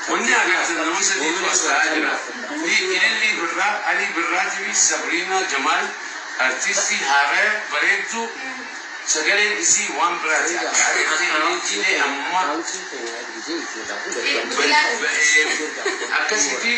Wanni agartan nama sadiitu as taa'aa jira. Fi Ilillii Birraa, Alii Birraa TV, Sabriinaa Jamaal, Artistii haaraya, bareedduu, sagaleen isii waan biraati akka areetti namni cilee amma ba'ee ba'ee akkasitii.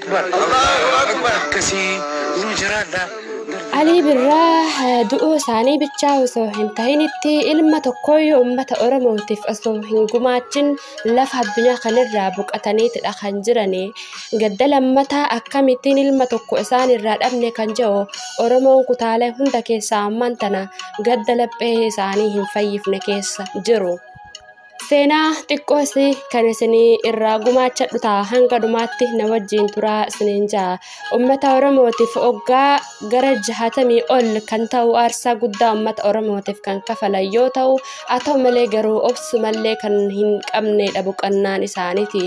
Alii Birraa du'uu isaanii bichaa osoo hin tahinitti ilma tokkooyyuu uummata Oromootiif osoo hin gumaachin lafa addunyaa kanarraa boqataniitidha kan jirani. Gadda lammataa akkamittiin ilma tokko isaan irraa dhabne kan jedhu Oromoon kutaalee hunda keessaa ammaan tana gadda laphee isaanii hin fayyifne keessa jiru. Seenaa xiqqoos kan isinii irraa gumaachadhu ta'a hanga dhumaatti na wajjin turaa isiniin ja'a. Uummata Oromootiif oggaa gara jahatamii ol kan ta'u aarsaa guddaa uummata Oromootiif kan kafalan yoo ta'u haa ta'u malee garuu obsumallee kan hin qabneedha boqannaan isaaniiti.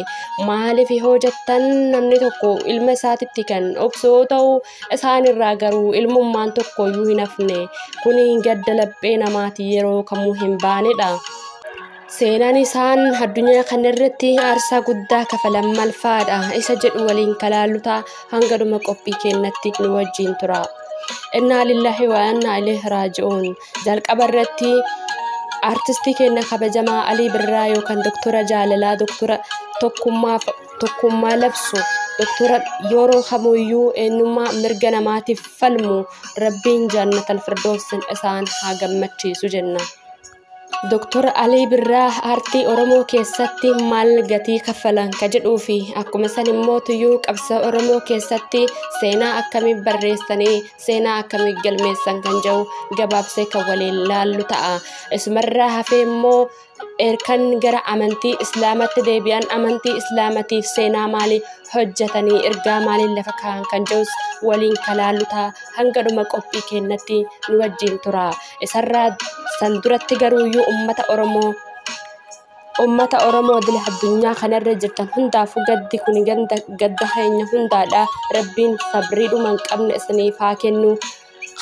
Maaliif yoo jettan namni tokko ilma isaatitti kan obsu yoo ta'u isaanirraa garuu ilmummaan tokko iyyuu hin hafne. Kuni gadda laphee namaati yeroo kamuu hin baanedha. Seenaan isaan addunyaa kana irratti aarsaa guddaa kafalan maal fa'aadha isa jedhu waliin kalaallu ta'a hanga dhuma qophii keenyatti nu wajjin tura. Innaa lillahi wa innaa ilaihi raaji'uun jalqaba irratti artistii keenya kabajamaa Alii Birraa yookaan doktora jaalalaa doktora tokkummaa tokkummaa labsu doktora yeroo kamuyyuu eenyummaa mirga namaatiif falmu rabbiin jaannatal firdoosin isaan haa gammachiisu jenna. Doktor Alii Birraa aartii Oromoo keessatti maal gatii kaffalan ka jedhuu fi akkuma san immoo tuyyuu qabsa Oromoo keessatti seenaa akkamii barreessanii seenaa akkamii galmeessan kan jedhu gabaabsee kan waliin laallu ta'a. Isumarraa hafee immoo erkan gara amantii Islaamatti deebi'an amantii Islaamatiif seenaa maalii hojjetanii ergaa maaliin lafa kaa'an kan jedhus waliin kan laallu ta'a. Hanga dhuma qophii keenyatti nu wajjin tura. isarraa san duratti garuu iyyuu ummata oromoo ummata oromoo dila addunyaa kanarra jirtan hundaafuu gaddi kun ganda gadda keenya hundaadha rabbiin sabrii dhuma hin qabne isiniif haa kennu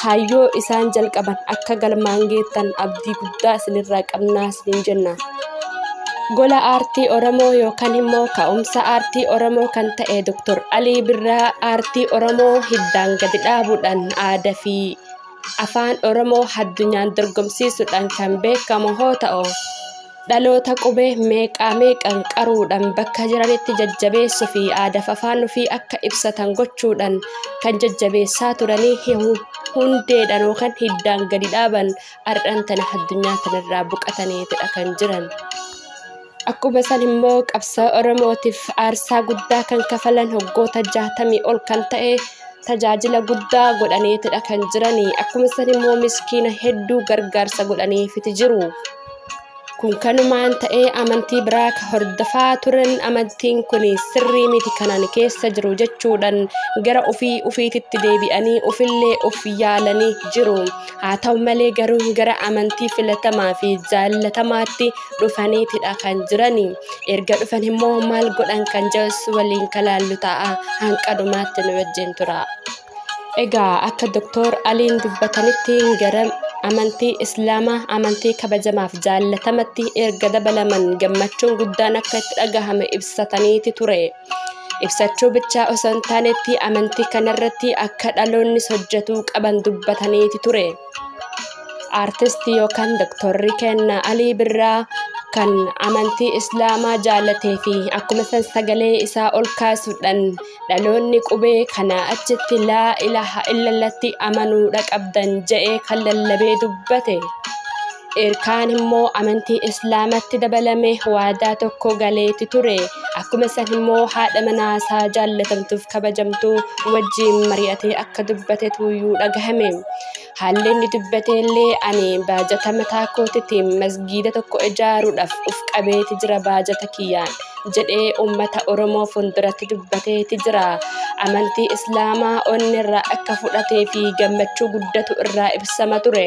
kaayyoo isaan jalqaban akka galmaan geettan abdii guddaa isinirraa qabnaa isiniin jenna. gola aartii oromoo yookaan immoo ka'umsa aartii oromoo kan ta'e Dr. Alii Birraa aartii oromoo hiddaan gadi dhaabuudhaan aadaa fi afaan Oromoo addunyaan dorgomsiisuudhaan kan beekamu hoo ta'u dhaloota qubee meeqaa meeqan qaruudhaan bakka jiranitti jajjabeessuu fi aadaaf afaan ofii akka ibsatan gochuudhaan kan jajjabeessaa turanii hundeedhaan yookaan hiddaan gadi dhaaban har'aan tana addunyaa kanarraa boqataniitidha kan jiran. Akkuma san immoo qabsoo Oromootiif aarsaa guddaa kan kafalan hoggoota jaatamii ol kan ta'e tajaajila guddaa godhaniitidha kan jirani. Akkuma san immoo miskiina hedduu gargaarsa godhaniifiti jiru. Kun kanumaan ta'ee amantii biraa ka hordofaa turan amantiin kun sirrii miti kanan keessa jiru jechuudhaan gara ofii ofiititti deebi'anii ofillee of yaalanii jiru. Haa ta'u malee garuu gara amantii filatamaa fi jaallatamaatti dhufaniitidha kan jirani. Erga dhufan immoo maal godhan kan jedhus waliin kalaallu ta'a hanqa dhumaatti nu wajjin tura. Egaa akka Doktor Aliin dubbatanitti gara amantii Islaamaa amantii kabajamaaf jaallatamatti erga dabalaman gammachuun guddaan akka itti dhagahame ibsataniiti ture. ibsachuu bichaa osoo hin taanetti amantii kanarratti akka dhaloonnis hojjetuu qaban dubbataniiti ture. Aartistii yookaan doktorri kenna Alii Birraa kan amantii Islaamaa jaalatee fi akkuma san sagalee isaa ol kaasuudhaan dhaloonni qubee kana achitti laa ilaha illallatti amanuudha qabdan je'ee kan lallabee dubbate. Erkaan immoo amantii Islaamatti dabalame waadaa tokko galeeti ture. Akkuma san immoo haadha manaa isaa jaallatamtuuf kabajamtu wajjiin mari'atee akka dubbate tuuyyuu dhagahame. Haalli inni dubbate illee ani baajata mataa kootitiin masgiida tokko ijaaruudhaaf uf qabeeti jira baajata kiyyaan jedhee uummata Oromoo fuulduratti dubbateeti jira. Amantii Islaamaa onni irraa akka fudhatee fi gammachuu guddatu irraa ibsama ture.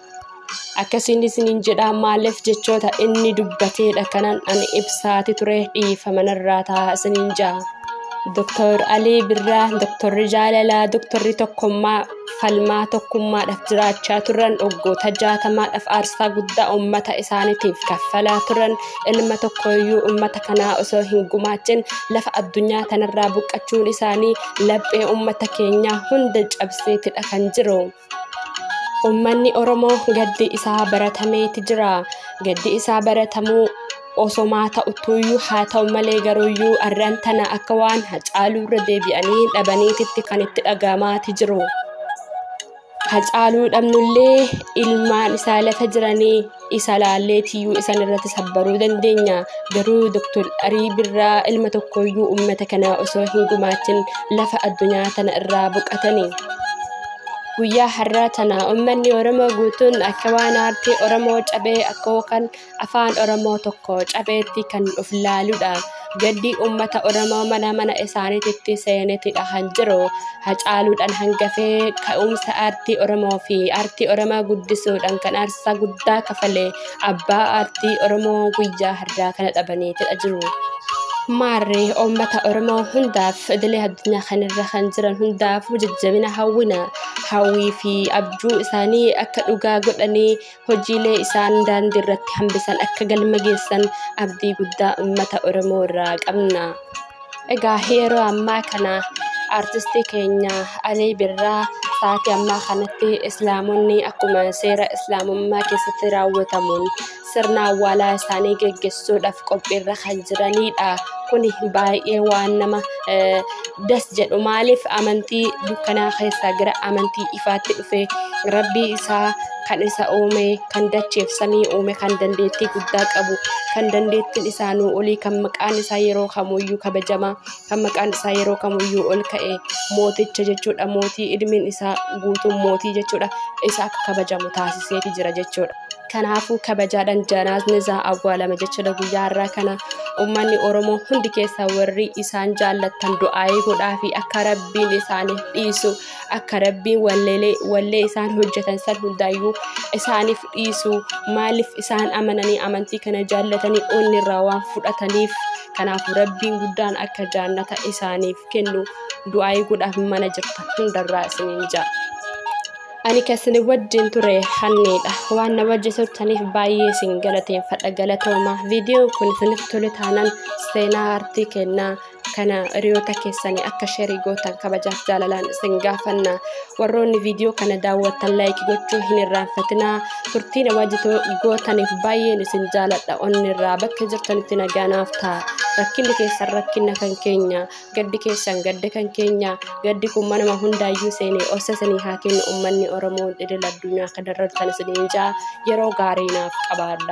akkasiin isiniin jedha maaliif jechoota inni dubbateedha kanan ani ibsaati ture dhiifama narraa ta'a isiniin ja'a. Doktor Alii Birraa, Doktorri Jaalalaa, Doktorri Tokkummaa falmaa tokkummaadhaaf jiraachaa turan waggoota jaatamaadhaaf aarsaa guddaa uummata isaaniitiif kaffalaa turan ilma tokkoyyuu uummata kanaa osoo hin gumaachin lafa addunyaa tanarraa buqqachuun isaanii laphee uummata keenyaa hunda cabseetidha kan jiru. Ummanni Oromoo gaddi isaa baratameeti jira. Gaddi isaa baratamuu osomaa ta'uttuyyuu haa ta'u malee garuuyyuu arran tana akka waan hacaaluu irra deebi'anii dhabaniititti kan itti dhaga'amaati jiru. Hacaaluu dhabnullee ilmaan isaa lafa jiranii isa laallee tiyyuu isan irratti sabbaruu dandeenya garuu doktor arii birraa ilma tokkoyyuu ummata kanaa osoo hin gumaachin lafa addunyaa tana irraa boqatani guyyaa har'aa tana ummanni oromoo guutuun akka waan aartii oromoo cabee akka kan afaan oromoo tokko cabeetti kan of laaludha Gaddi uummata Oromoo mana mana isaaniititti seenetidha kan jiru. Hacaaluudhaan hangafee ka'umsa aartii Oromoo fi aartii Oromoo guddisuudhaan kan aarsaa guddaa kafale abbaa aartii Oromoo guyyaa har'aa kana dhabaniitidha jiru. Maarree uummata Oromoo hundaaf idilee addunyaa kanarra kan jiran hundaafuu jajjabina hawwina. Hawwii fi abjuu isaanii akka dhugaa godhanii hojiilee isaan daandii irratti hambisan akka galma geessan abdii guddaa uummata Oromoo irraa qabna. Egaa yeroo ammaa kana artistii keenya Alii Birraa sa'aatii ammaa kanatti islaamonni akkuma seera islaamummaa keessatti raawwatamuun sirna awwaalaa isaanii geggessuudhaaf qophiirra kan jiranidha. Kun baay'ee waan nama eh, das jedhu maaliif amantii dukkanaa keessaa gara amantii ifaatti dhufe rabbii isaa kan isa uume kan dacheef samii uume kan dandeettii guddaa qabu kan dandeettiin isaa nuu olii kan maqaan isaa yeroo kamuyyuu kabajama kan maqaan isaa yeroo kamuyyuu ol ka'e mooticha jechuudha mootii ilmiin isaa guutuun mootii jechuudha isa akka kabajamu taasiseeti jira jechuudha. Kanaafuu kabajaadhaan janaasni isaa awwaalama jechuudha guyyaa har'aa kana uummanni Oromoo hundi keessaa warri isaan jaallattan du'aayii godhaa fi akka rabbiin isaaniif dhiisu akka rabbiin walleelee wallee isaan hojjetan san hundaayyuu isaaniif dhiisu maaliif isaan amananii amantii kana jaallatanii onni irraa waan fudhataniif kanaaf rabbiin guddaan akka jaannata isaaniif kennu du'aayii godhaaf mana jirta hundarraa isiniin ja'a. ani kasini wajjin ture hanniidha waan na wajji turtaniif baay'ee isin galateeffadha galatooma viidiyoon kun isinitti tole taanaan seenaa aartii kennaa kana hiriyoota keessanii akka sherii gootan kabajaaf jaalalaan isin gaafanna warroonni viidiyoo kana daawwattan laayikii gochuu hin irraanfatinaa turtiin waajjitoo gootaniif baay'een isin jaaladha onnirraa bakka jirtanitti nagaanaaf ta'a rakkinni keessan rakkinna kan keenya gaddi keessan gadda kan keenya gaddi kun manuma hundaayyuu seenee obsa isinii haa kennu ummanni oromoo idil addunyaa akka darartan isiniin ja'a yeroo gaarii naaf qabaadha.